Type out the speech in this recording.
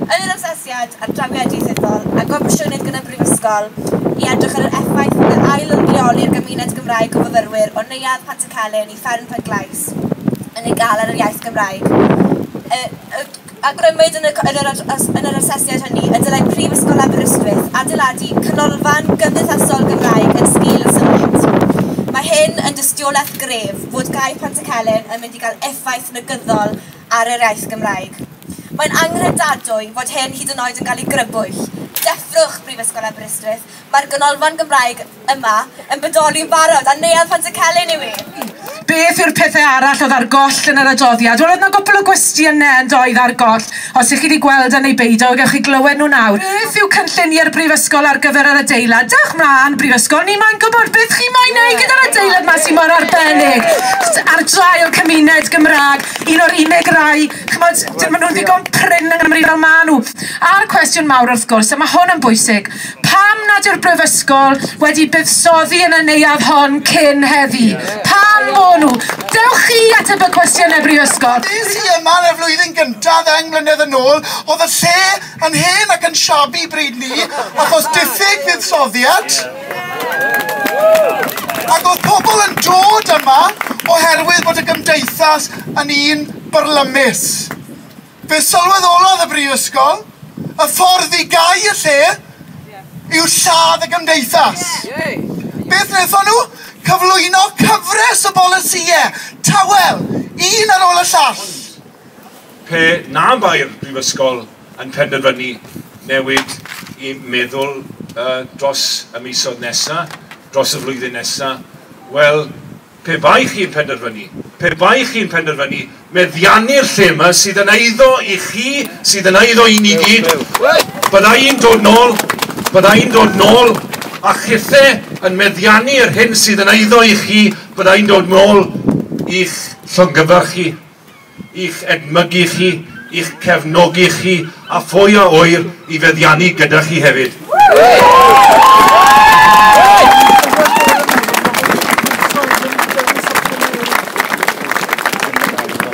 Yn yr asesiad ar dramiau dieithyddol a gomisiynwyd gan y Brifysgol i edrych ar yr effaith fydd yr ail yn rheoli ar gymuned Gymraeg o fyfyrwyr o Neuadd Pantycelyn i Fferm Pencglais yn ei gael ar yr iaith Gymraeg, awgrymwyd yn yr asesiad hynny y dylai Prifysgol Aberystwyth adeiladu canolfan gymdeithasol Gymraeg yn sgil y syniad. Mae hyn yn dystiolaeth gref fod gaeth Pantycelyn yn mynd i gael effaith negyddol ar yr iaith Gymraeg. Mae'n anghredadwy fod hyn hyd yn oed yn cael ei grybwyll. Deffrwch Brifysgol Aberystwyth, mae'r Ganolfan Gymraeg yma yn bodoli'n barod, a Neuadd Pantycelyn yw hi! Beth yw'r pethau arall oedd ar goll yn yr adoddiad? Wel, oedd 'na gwpwl o gwestiynau yn doedd ar goll, os y'ch chi 'di gweld e neu beidio, gewch chi glywed nhw nawr. Beth yw cynlluniau'r Brifysgol ar gyfer yr adeilad? Dewch 'mlaen, Brifysgol, ni moyn gwybod beth chi moyn wneud gyda'r adeilad 'ma sy' mor arbennig ar draul cymuned Gymraeg. un o'r unig rai, ch'mod, d- maen nhw'n ddigon prin yng Nghymru fel maen nhw. A'r cwestiwn mawr, wrth gwrs, a mae hwn yn bwysig, pam nad yw'r Brifysgol wedi buddsoddi yn y neuadd hon cyn heddi? Pam bo nhw? Dewch chi ateb y cwestiynau Brifysgol. Des i yma yn y flwyddyn gyntaf ddeng mlynedd yn ôl, oedd y lle yn hen ac yn shabby bryd 'ny, achos diffyg fuddsoddiad. Ac oedd pobl yn dod yma oherwydd bod y gymdeithas yn un byrlymus. Fe sylweddolodd y Brifysgol y ffordd i gau y lle yw lladd y gymdeithas. Beth wnaethon nhw? Cyflwyno cyfres o bolisïau tawel, un ar ôl y llall. Pe na bai'r Brifysgol yn penderfynu newid eu meddwl dros y misoedd nesaf, dros y flwyddyn nesaf, wel, pe bai chi'n penderfynu, pe bai chi'n penderfynu meddiannu'r lle yma sydd yn eiddo i chi, sydd yn eiddo i ni gyd, bydda i'n dod nôl, bydda i'n dod nôl a chithe yn meddiannu yr hyn sydd yn eiddo i chi, bydda i'n dod nôl i'ch llongyfarch chi. i'ch edmygu chi, i'ch cefnogi chi a phwy a ŵyr i feddiannu gyda chi hefyd.